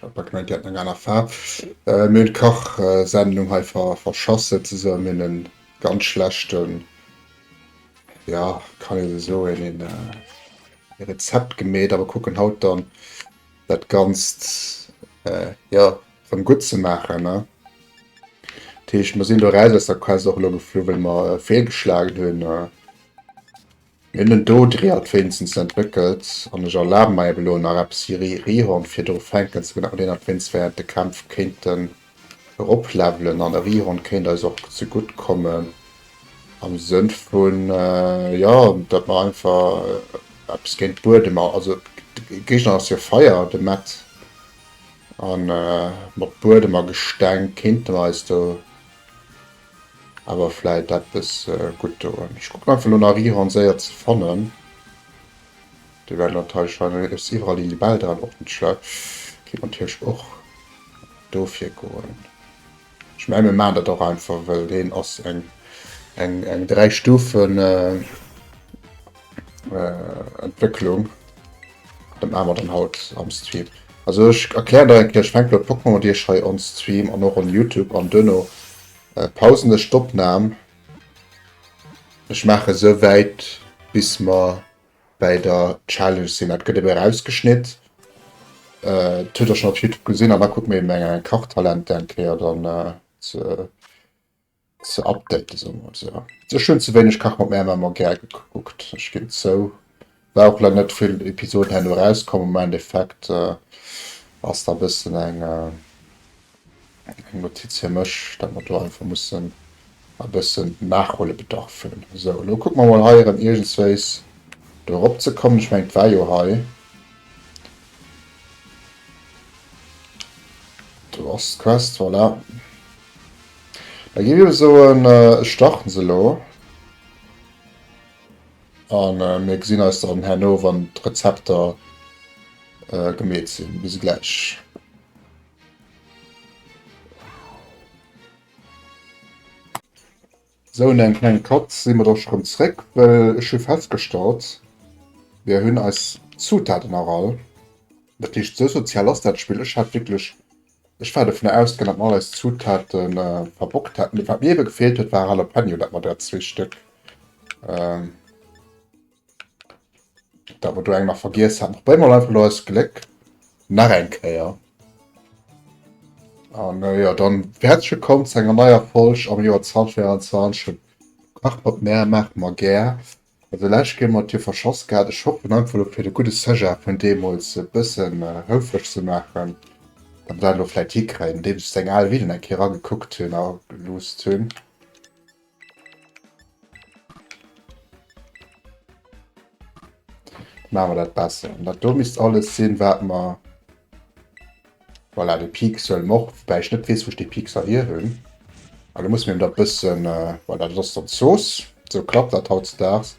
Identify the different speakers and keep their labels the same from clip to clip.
Speaker 1: Hat gemengt déi hätten eng aner Faarw. Mir hunn d'Kachsendung hei verschassen zesumme, mir hunn en ganz schlechten, ja kann ee sou soen, een Rezept gemeet awer kucken haut dann dat ganzt ja rëm gutt ze maachen ne. Dat heescht mer sinn do eraus aus der Quest och elo geflu well mer feelgeschlagen hunn. Mir hunn en Dod Rehald wéinstens entwéckelt an ech erlabe mei elo nach eppes hir Rehorn fir do fänken ze benennt, dat wéinst während de Kämpf kéinten erop levelen an e Rehorn kéint eis och ze gutt kommen am Sënn vun jo dat mer einfach eppes géint Buedem also de Géigner ass jo Feier de Mett an mat Buedem a Gesteng kéinte mer eis do Awer vläit eppes gutt dorun. Ech kucken einfach lo nach Rihorn séier ze fannen. Déi well natierlech scheinbar ech si iwwerall Lili Belldran och net schlecht. Kéint natierlech och dofir goen. Ech mengen mir maachen dat och einfach well deen ass eng eng eng 3 Stufen. äh, Entwécklung. Dat maache mer dann haut am Stream. Also ech erklären da eng Kéier, ech fänke mat Pokémon un, Iech hei on Stream an och on Youtube an duerno äh, pausen ech d'Opnam. Ech maache sou wäit bis mer bei der Challenge sinn. Dat gëtt ebe rausgeschnitt. Äh, dat huet Der schonn op Youtube gesinn an da kucke mir eben eng Kachtalente eng Kéier dann äh, ze. ze updaten, soe mer esou. Ech hunn ze wéineg Kach mat Mär Mamm a Gär gekuckt, ech ginn zou. War och laang net vill Episoden herno erauskomm, am Endeffekt ass da e bëssen eng Notiz fir mech, dat mer do einfach mussen e bëssen Nachhuelebedarf hunn. Esou, elo kucke mer mol hei erëm iergendswéis do eropzekommen. Ech mengen et war jo hei. Do ass d'Quest, voilà. Da gi mir soen, ech starten se elo an mir gesinn eis dann herno wann d'Rezepter gemeet sinn. Bis gläich. Sou no engem klenge Cut si mer da scho rëm zréck, well ech hu festgestallt, mir hunn eis Zutaten nach all. Dat heescht, esou sozial ass dat Spill. Ech hat wierklech, ech war dovunner ausgaangen, datt mer all eis Zutaten verbockt hätten. Mee wat mir ebe gefeelt huet, war Jalapeno, dat mer der zwee Stéck. Da wat du eng nach vergiess hat nach brénger einfach lo eis Gléck nach eng Kéier. An ah, ja dann herzlich willkommen zu enger neier Folg am Joer 2024 Kachpot Mär maach mer gär. Also läch ginn mat dir verschoss gehabt. Ech hoffen einfach lo fir de gute Sujet vun deemools e bëssen äh, houfreg ze maachen, dat mer dat lo vläicht hikréien, andeems ech seng al Videoen eng Kéier agekuckt hunn a geloosst hunn. Maache mer dat besser. An dat do misst alles sinn, wat mer... Voilà, de Pixel mort, woubäi ech net weess, wou ech dee Pixel hier hunn. An da muss mir dat bëssen... Äh, voilà, dat ass dann d'Zooss. Esou klappt dat hautzedaags.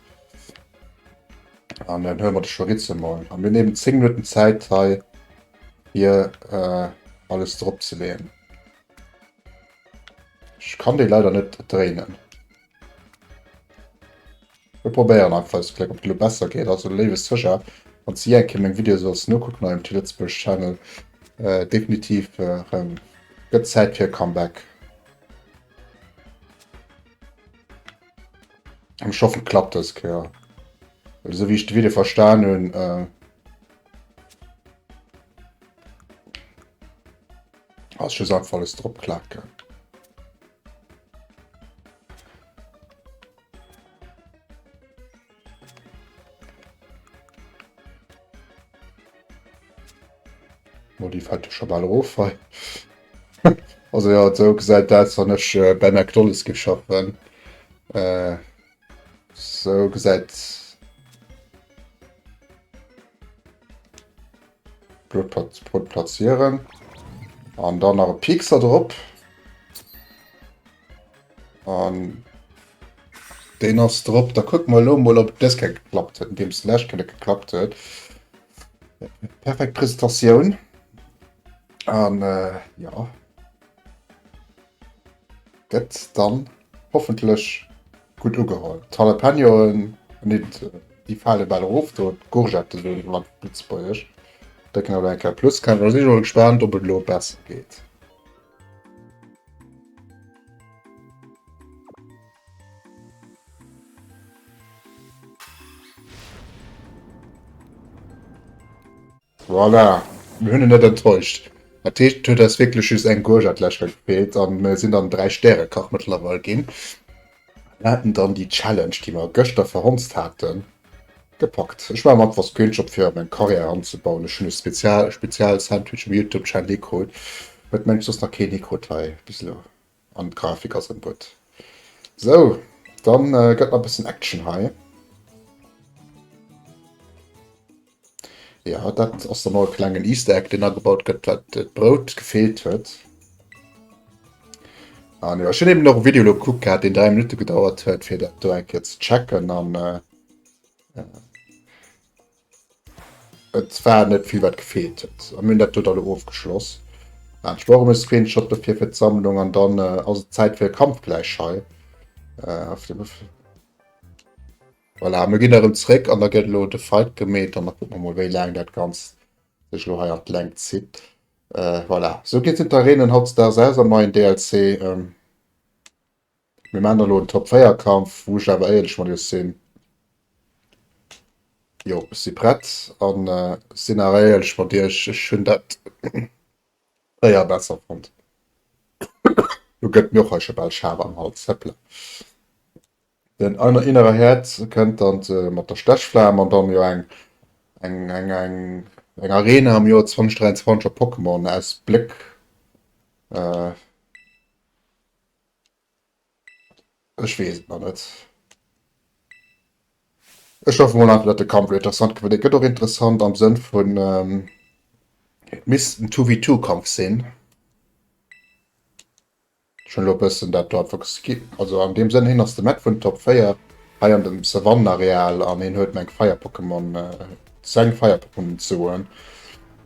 Speaker 1: An dann huele mer de Chorizo mol. A mir nehmen 10 Minutten Zäit hei, fir äh, alles drop ze leeën. Ech kann dei leider net dréinen. Mir probéieren einfach eis Gléck, ob et lo besser geet. Also léiwe Secher, wanns de jee eng Kéier meng Videoe solls nokucken hei um T-Lëtzebuerg Channel, definitiv erem gëtt Zäit fir e Comeback. An ech hoffen et klappt dës Kéier, well esou wéi ech de Video verstan hunn, Ass just einfach alles drop klaken. Oh, die fällt schon mal auf. also ja, so gesagt, das habe ich äh, bei McDonalds geschafft. Äh, so gesagt. Brot platzieren. An dann nach e Piekser drop. An den ass drop. Da kuck mal lo mol op dës ke geklappt huet, deems de lescht kënne geklappt huet. Perfekt Presentatioun. An äh, ja. Gëtt dann hoffentlech gutt ugeholl. D'Jalapeñoen, nee déi fale bal erof do, d'Courgette soen ech ëmmer lëtzebuergesch, déi kënne elo eng Kéier plus kréien. Ech si mol gespaant ob et elo besser geet. Voilà, mir hunn en net enttäuscht. Dat heescht, et huet eis wierklech just eng Gurch an d'Lächer gefeelt a mir sinn dann dräi Stärekach mëttlerweil ginn an haten dann déi Challenge, déi mer gëschter verhonzt haten, gepackt. Ech maache mer einfach Screenshot fir a meng Carrière anzebauen. Ech hunn e Spezial, e Spezial Sandwich um Youtube Channel ikrut, wat mensch soss nach keen ikrut hei bis elo. An d'Grafik ass en Bot. Sou, dann gëtt nach e bëssen Action hei. Jo, dat ass dann och e klengen Easter Egg, deen agebaut gëtt, well d'Brout gefeelt huet. An jo, ech hunn eben och e Video elo gekuckt gehat, deen 3 Minutte gedauert huet, fir dat do eng Kéier ze checken. An. Et war net vill wat gefeelt huet a mir hunn dat do da lo ofgeschloss. Ah, ech brauch emol e Screenshot dofir fir d'Sammlung an dann ass et Zäit fir e Kampfgleich hei. Voilà, mir ginn erëm zréck an da gëtt elo de Fight gemeet an da kucke mer mol wéi laang dat Ganzt sech elo hei an d'Längt zitt. Voilà, esou geet sinn d'Areenen hautdesdaags aus am neien DLC. Mir maachen dann elo en Top 4 Kampf, wou ech awer éierlech mat iech sinn. Jo, ech si prett an ech sinn awer éierlech mat iech, ech hunn dat 4 besser fonnt. Lo gëtt mir och hei scho bal schaarf am Hals, hepla. Den innere Herd kënnt dann mat der Stechflam an dann jo eng eng Arena am Joer 2023 op Pokémon aus Bléck. Ech weess et nach net. Ech hoffen mol einfach dat de Kampf lo interessant gëtt, well dee gëtt och interessant am Sënn vun et misst en Two vs Two Kampf sinn. Ech hunn lo e bëssen dat do einfach geskippt. Also an deem Sënn, hien ass de Mett vun Top 4 hei an dem Savannenareal an hien huet meng Feier-Pokémon. seng Feier performance soen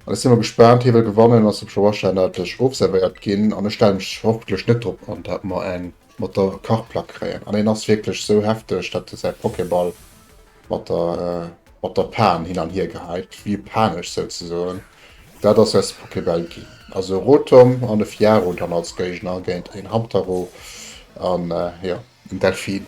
Speaker 1: an ech si mol gespaant. Hie wëll gewannen, ass op Joerschennerdesch ofservéiert ginn an ech stelle mech hoffentlech net drop an, dat mer eng mat der Kachplack kréien an en ass wierklech sou hefteg, dat e säi Pokéball mat der mat der Pan hin an hier geheit, wéi e panesch souzesoen. Dat ass säis Pokéball ginn, also e Rotom an e Fiaro dann als Géigner géint een Hamtaro an jo en Delfin.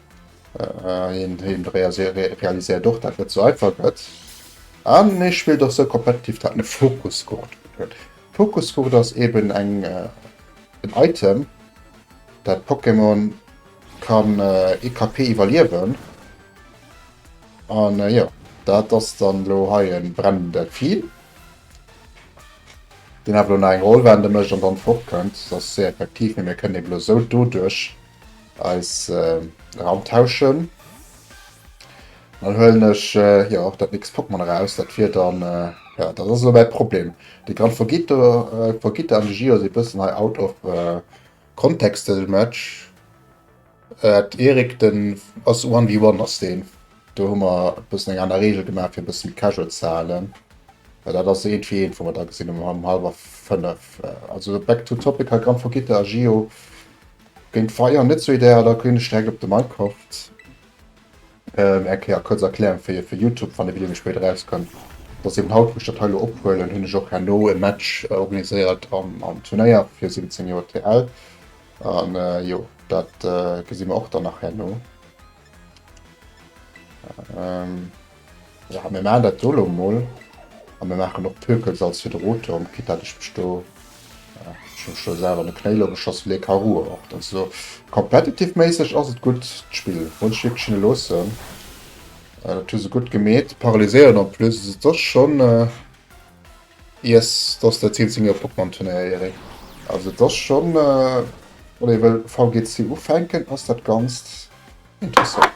Speaker 1: Äh, hien, hien realiséiert och, dat net sou einfach gëtt. An hie spillt och sou competitive, dat en e Fokusgurt huet. Fokusgurt ass eben eng äh, en Item, dat Pokémon kann äh, ee KP iwwerliewen. An äh, jo, dat ass dann lo hei en brennenden Delfin, deen awer lo nach eng Roll wende mécht an dann fortkënnt. Dat ass séier effektiv, mee mir kënnen eben lo sou doduerch. eis Raum tauschen. Dann huelen ech äh, ja, och dat nächst Pokémon eraus. Dat wier dann, äh, ja, dat ass lo mäi Problem. De Gran Fogito, äh, Fogito an de Gio si bëssen hei out of äh, context de Match. Äh, Erik, den ass 1v1 ass deen. Do hu mer e bëssen eng aner Regel gemaach, fir e bësse méi casual ze halen. Well dat ass eent fir eent, wou mer da gesinn hunn, um halwer fënnef. Also back to topic, hei Gran Fogito a Gio, Géint d'Feier net sou ideal, da ginn ech direkt op de Minecraft. Ähm, erklär, kuerz Erklärung fir, fir Youtube, wann de Video méi spéit erauskënnt, dass eben haut, wou ech dat hei elo ophuelen, hunn ech och herno e Match organiséiert am, am Turnéier fir 17 Joer TL. An jo, dat gesi mer och dann nach herno. Ähm. Ja, mir maachen dat do elo emol. A mir maachen och d'Hökels als Hydroturm, quitt dat ech mech do, ja, ech hu mech do selwer an de Knéi elo geschoss, well hie ka ruer och. Dacks elo competitive-méisseg ass et gutt, d'Spill muss ech wierklech hinne loossen, dat hu se gutt gemeet. Paralyséieren en plus, also et ass schonn, yes, do ass der Zeen zu mir op Pokémon-Turnéier, Erik. Also et ass schonn, wann ee wëll VGC ufänken, ass dat Ganzt interessant.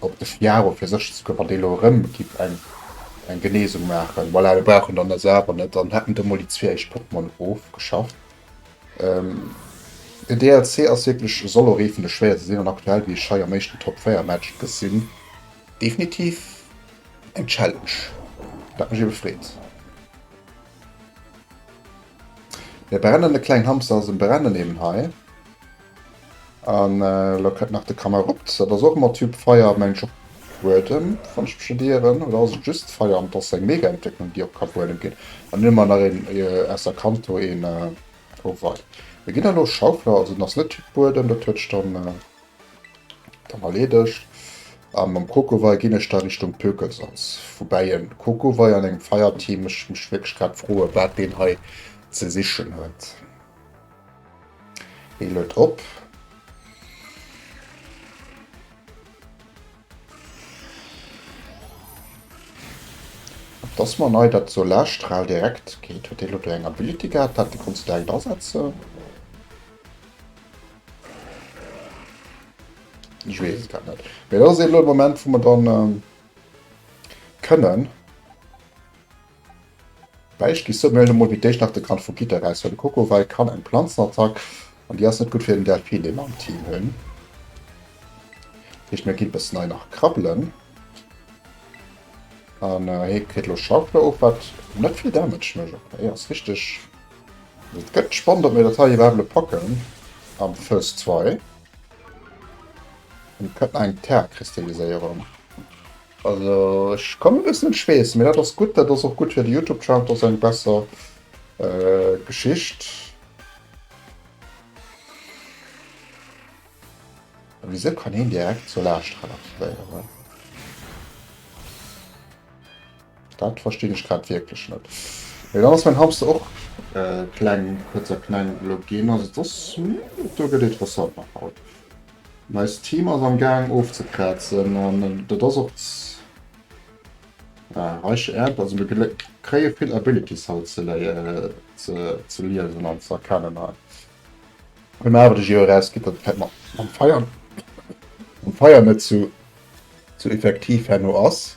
Speaker 1: Op de Chiaro fir sécher ze goen, wann dee elo erëm giff eng Genesung maachen, voilà, da brauch en dann dës awer net, dann hätt en do mol déi zwee éischt Pokémon ofgeschafft. Den DLC ass wierklech, soll och ee vun de schwéierste sinn, an aktuell, wéi ech hei am éischten Top 4 Match gesinn, definitiv eng Challenge, dat mech ebe freet. E brennende kleng Hamster ass e brennenden eben hei. An elo kënnt nach de Camerupt, dat ass och ëmmer Typ Feier, mengen ech op Buedem, wann ech mech net ieren. Oder ass et just Feier an et ass seng Mega-Entwécklung, déi op Kabuedem geet? An dunn hu mer nach een aus der Kanto, een Oh wei. Mir ginn elo Schaufler, also en ass net Typ Buedem, dat huet sech dann dann erleedegt. A mam Kokowei ginn ech da Richtung Pökelsalz, woubäi e Kokowei an engem Feierteam, ech mech wierklech grad froe wat deen hei ze sichen huet. Hie luet op. Dass mer nei dat Solarstral direkt geet, huet dee lo do eng Ability gehat, dat do konns de direkt asetze. Ech weess et grad net. Mee dat ass elo de Moment wou mer dann kënnen. Bäischt gi Samuel emol fir d'éischt nach de Grand vu Gitter aus, well de Kokowai kann eng Planzenattack an déi ass net gutt fir den Delphin, dee mer am Team hunn. Dat heescht, mir ginn e bëssen hei nach krabbelen. An hie kritt elo Schaufler of, wat net vill Damage mécht. Ok, hie ass richteg. Et gëtt spannend, ob mir dat hei iwwerhaapt elo packen am Phase 2. Hien huet nach eng Terra-Kristalliséierung. Also ech kann et eis net schweessen, mee dat ass gutt, dat ass och gutt fir de Youtube Chart, dat ass eng besser Geschicht. Wisou kann hien direkt zur Laascht relativéieren? Dat verstinn ech grad wierklech net. Mee dann ass mäin Hamster och kleng, kuerz a kleng elo ginn. Also et ass, do gëtt interessant nach haut. Nice Team ass am gaang ofzekraatzen an dat ass och z' reich Äerd. Also mir kréie vill Abilities haut ze liesen an ze erkennen hei. Wann mir awer de Jeu eraus geet dat fält mat mam Feier mam Feier net sou effektiv herno ass.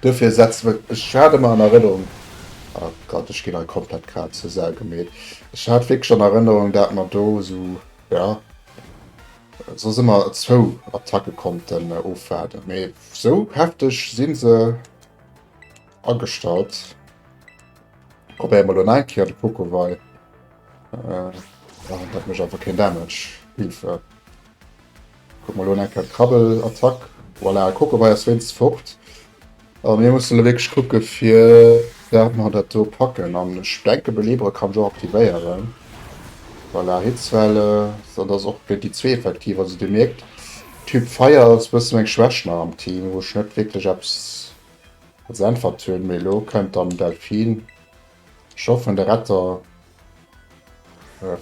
Speaker 1: Duerfir setzt mer, ech hat ëmmer an Erënnerung, oh Gott, ech ginn hei komplett grad zur Sau gemeet, ech hat wierklech an Erënnerung, dat mer do esou, jo, soss ëmmer zwou Attacke konnten ofwaarden, mee esou hefteg si se agestallt. Probéiere mer elo nach eng Kéier de Pokowei, dat mécht einfach keen Damage, Hilfe. Kuck mol, elo eng kleng Krabbelattack. Voilà, kuck, elo war jo wéinstens fort. A mir mussen elo wierklech kucke fir dat mer dat do packen. An ech denke Belebere kann ech och aktivéieren. Voilà, Hitzwelle, esou datt och géint déi zwee effektiv. Also Dir mierkt, Typ Feier ass e bësse meng Schwächt nach am Team, wou ech net wierklech eppes als Äntwert hunn. Mee elo kënnt dann Delphin. Scho vun de Retter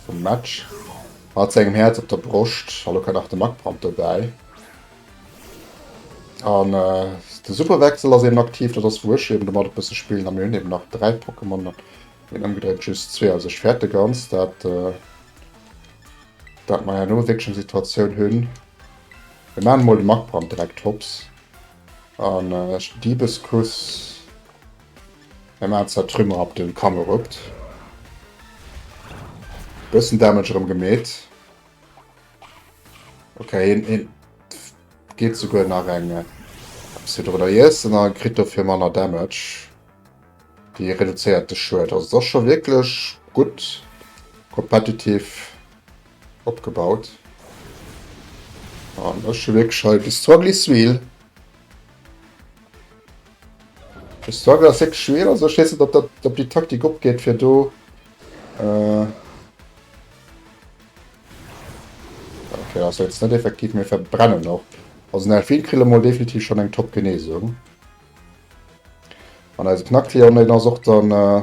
Speaker 1: vum Match mat sengem Häerz op der Broscht, a lo kënnt nach de Magbrand dobäi. An de Superwechsel ass eben aktiv, dat ass wou ech eben domat e bësse spillen. A mir hunn eben nach 3 Pokémon, neen ëmgedréint just zwee, also ech fäerte ganz, dat dat mer herno wierklech eng Situatioun hunn. Mir maachen emol de Magbrand direkt hops an Diebeskuss. Eng Mahlzeit Trümmer ab den Kamm eruppt. Bessen Damage erem gemeet. Ok heen heen geet souguer nach eng äh, eppes hir drunner iessen a kritt dofir manner Damage. Déi reduzéiert de Schued. Also et ass scho wierklech gutt competitive opgebaut. An ech hu wierklech hei de Struggle is real. De Struggle ass hék schwéier, also ech weess net, ob dat ob déi Taktik opgeet fir do äh, okay, ass jetzt net effektiv, mir verbrennen och. Also den Elfin kritt mol definitiv schon eng top Genesung. An eise Knacktier an den ass och dann äh,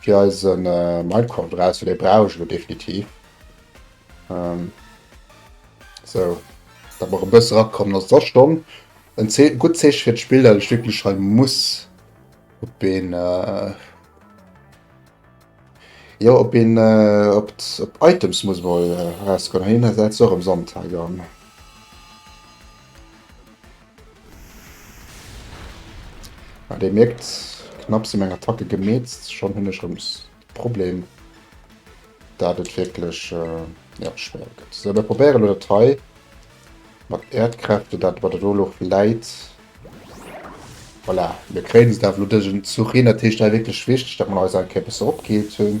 Speaker 1: Fir eise Mindcraft eraus, well dee brauch ech elo definitiv. Sou, dat mer e bësse rakommen ass. Et ass schonn en Ze gutt Zeeche fir d'Spill, dat ech wierklech hei muss op een, jo op een, op d'Items muss mol erausgoen. Hei, hien ass och ëmsonn hei. Ah dir mierkt, knapp si meng Attacke gemeetzt, schonn hunn ech rëms de Problem dat et wierklech jo schwéier gëtt. Sou mir probéieren elo dat hei mat Äerdkräfte dat wat et elo och läit. Voilà mir kréien se da elo dësen Zuch hin. Dat heescht hei wierklech wichteg dat mer eis eng Kéier e bësse opgeheelt hunn.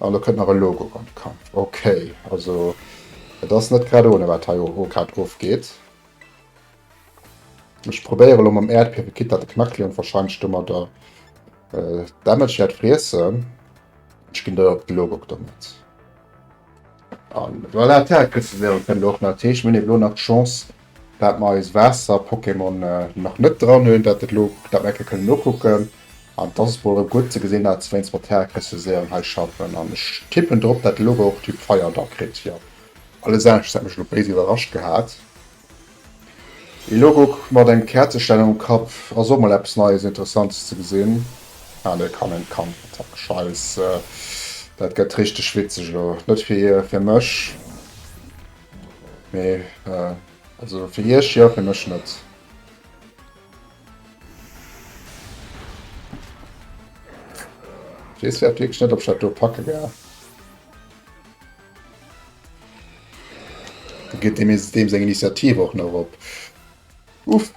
Speaker 1: An do kënnt nach e Logo an de Kapp. Ok, also et ass net grad ohne wat hei grad ofgeet. Ech probéiere lo mam Äerdbiewe Kit, dat de Knackleon wahrscheinlech domadder Damage wäert friessen. Ech ginn dei op de Logo domat. An voilà, d'Häre kriss de se awer kënnen och nach teechen. Mir hunn eben elo nach d'Chance, dat mer eis Waasser-Pokémon nach net dran hunn, dat et elo, dat mer ecke kënnen nokucken. An d'ass et mol erëm gutt ze gesinn, dat se wéinst mat d'Häre kriss de Serum hei schaffen. An ech tippen drop, dat de Lugauge och Typ Feier da kritt, jo. Alles anescht hätt mech elo béis iwwerrascht gehat. Ee Logo mat engem Käerzeständer um Kapp ass och mol eppes Neies, Interessantes ze gesinn. Alle kann en Kannertapp scheiße. Dat gett richteg witzeg elo. Net fir mech mee also fir iech jo, fir mech net. Wees grad wierklech net op ech dat do packe gell. Geet dem jetzt dem seng Initiative och nach op. Uff.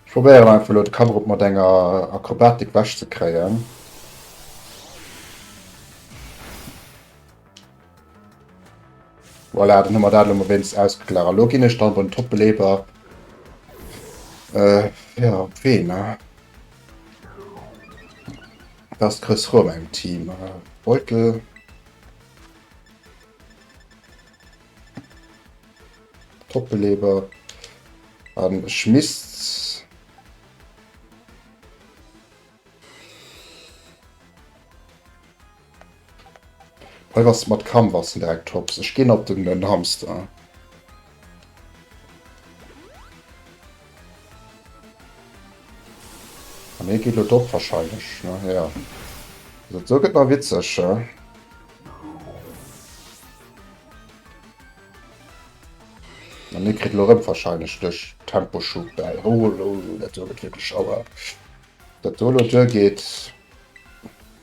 Speaker 1: Ich probiere einfach lo de Cover op mat enger Akrobatik wäsch ze kréien. Voilà, dann hu mer dat elo mol wéinstens ausgeklaart. Elo ginn ech dann beim Top-Beleber äh, ja, op ween, ne? Dats Chris Roum engem Team. Äh, Beutel. Top-Beleber. An ech misst. Hei bass de mat Kamm bass de direkt Tops. Ech ginn op den den Hamster. An hie geet lo dop wahrscheinlech ne jo. Also do gëtt nach witzeg he. An hie kritt lo rëm wahrscheinlech duerch Temposchub bäi. Holo dat do gëtt wierklech Auer. Dat do lo duergeet.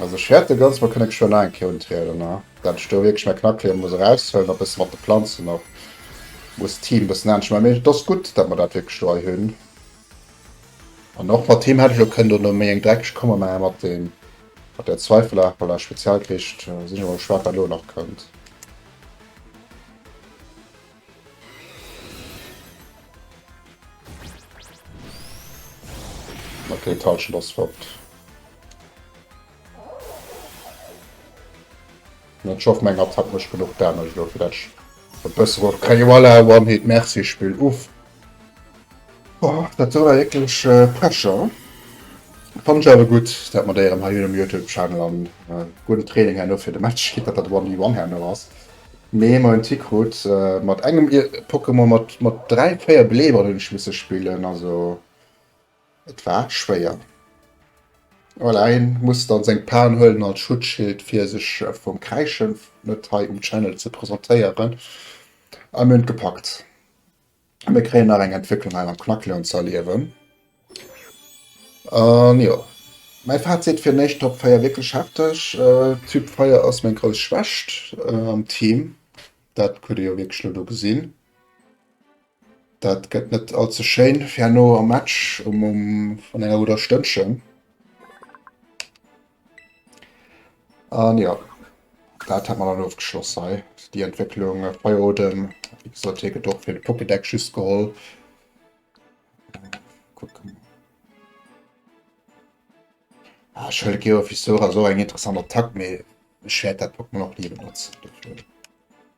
Speaker 1: Also ech hätte ganz mal kënne geschwë nach eng Kéier untrieden, ne? Dat ech do wierklech meng Knackleeër muss eraushuelen a bësse mat de Planzen och muss d'Team bëssen anescht man. Mee et ass gutt, datt mer dat wierklech do hei hunn. An och mat him hätt ech elo kënnen do no méi eng dreckeg Komma maachen, mat deem, mat där zweifelhafer Spezialkricht. Sinn ech emol gespaant, wat elo nach kënnt. Okay, Touch das fort. Ich hoffe, mein Gott hat nicht genug Damage dafür, dass ich ein bisschen was kriege. Voilà, One-Hit, merci, Spiel. Uff. Boah, das war wirklich äh, Pressure. Fand ich aber gut, dass wir da im High Myrtle Channel an äh, guten Training haben für den Match, dass das One-D-One haben was. Mee emmer en Tick krut. Mat engem Pokémon mat mat 3, 4 Beleeberen hunn ech misse spillen, also et war schwéier. Voilà, hien muss dann seng Pan huelen als Schutzschild fir sech vum Kräischen net hei um Channel ze presentéieren, a mir hunn et gepackt. A mir kréien nach eng Entwécklung hei am Knacklöwen ze erliewen. An jo, mäi Fazit, fir d'éischt Top 4 wierklech hefteg. Typ Feier ass meng grouss Schwächt am Team, dat hutt Dir jo wierklech elo do gesinn. Dat gëtt net all ze schéin fir herno am Match vun enger gudder Stënnchen. An jo, dat hat mer dann ofgeschloss hei, déi Entwécklung bei Odem. Wéi gesot, hie gëtt och fir de Pokédex just geholl. Kucken. Ah, ich hol Geo Fisora so eng interessant Attack, mee ich werd dat Pokémon auch nie benutzen. Dafür.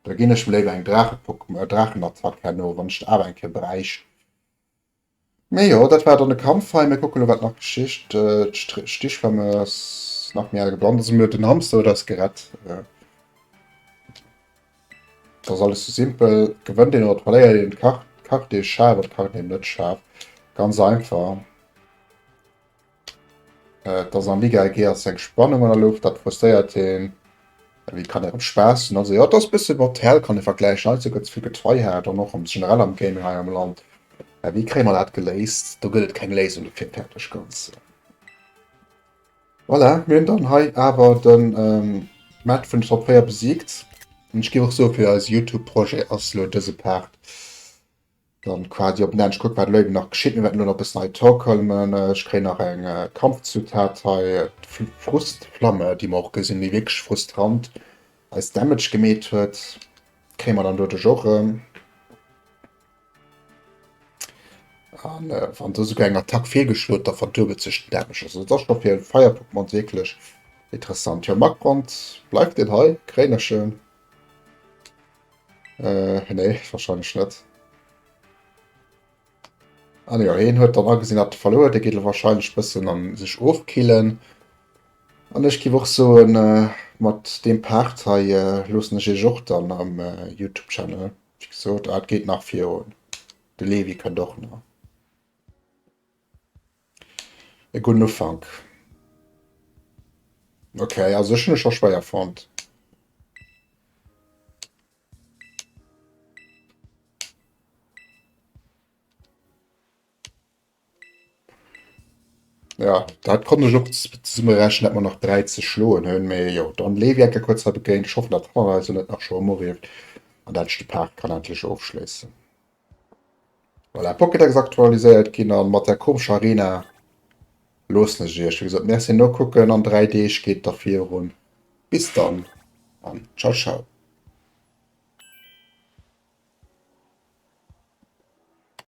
Speaker 1: Da ginn ech mir léiwer eng Drache-Pokémon, äh, Drachenattack herno, wann ich awer eng Keer bräuch. Mee jo, dat war dann de Kampf hei. Mir kucke lo, wat nach geschitt. D'Stichflamme ass nach méi al gebrannt. Also mir den Hamster huet eis gerett. Äh, Das alles so simpel. Gewënnt een oder verléiert een d'Karte, d'Karte ee scharf oder d'Karte ee net scharf. Ganz einfach. Äh, dass am Liga eng Géier seng Spannung an der Luucht, dat frustréiert hien. Wéi kann erëm Spaass hunn? Also jo, et ass e bësse mat Hell kann ee vergläichen. Heizou gëtt ze vill getryhard an och am generell am Gaming hei am Land. Mä wéi kréie mer dat geléist? Do gëtt et keng Léisung dofir, fäerdeg ganz. Voilà, mir hunn dann hei awer de Match vun de Top 4 besiegt. An ech géif och soe fir eise Youtube-Projet ass elo dëse Part. Dann quasi op den Enn, ech kucken wat elo eben nach geschitt, mir wäerten elo nach e bëssen hei torkelmen, ech kréien nach eng Kampfzutat hei, d'Frustflamme déi mer och gesinn, déi wierklech frustrant eis Damage gemeet huet, kréie mer dann doduerch och erëm an wann se esouguer eng Attack feelgeschloen huet, da verduebelt sech den Damage, also dat ass scho fir e Feierpokémon wierklech interessant. Jo Magbrand, bleift en hei, kréien ech en? Äh, nee, wahrscheinlech net. Ah ne, heen huet dann agesinn, dat verloer, de geet wahrscheinlech bëssen an sech ofkillen. An ech giff och soen, äh, mat deem Part hei äh, loossen ech iech och dann am äh, Youtube Channel, wéi gesot, ah, et geet nach virun, de Levi kënnt och nach. E gudden Ufank. Ok, also ech hun ech scho schwéier fonnt. Jo, dat konnt ech och zesumme rechnen, datt mer nach 3 ze schloen hunn. Mee jo, dann leefe ech enke kuerz hei begéint. Ech hoffen, datt d'Kamera eis elo net nach scho ëmorieft an datt ech de Part kann endlech ofschléissen. Voilà, Pocket ass aktualiséiert ginn an mat der komescher Arena loossen ech iech wéi gesot merci nokucken an 3 Deeg geet da virun. Bis dann an ciao ciao.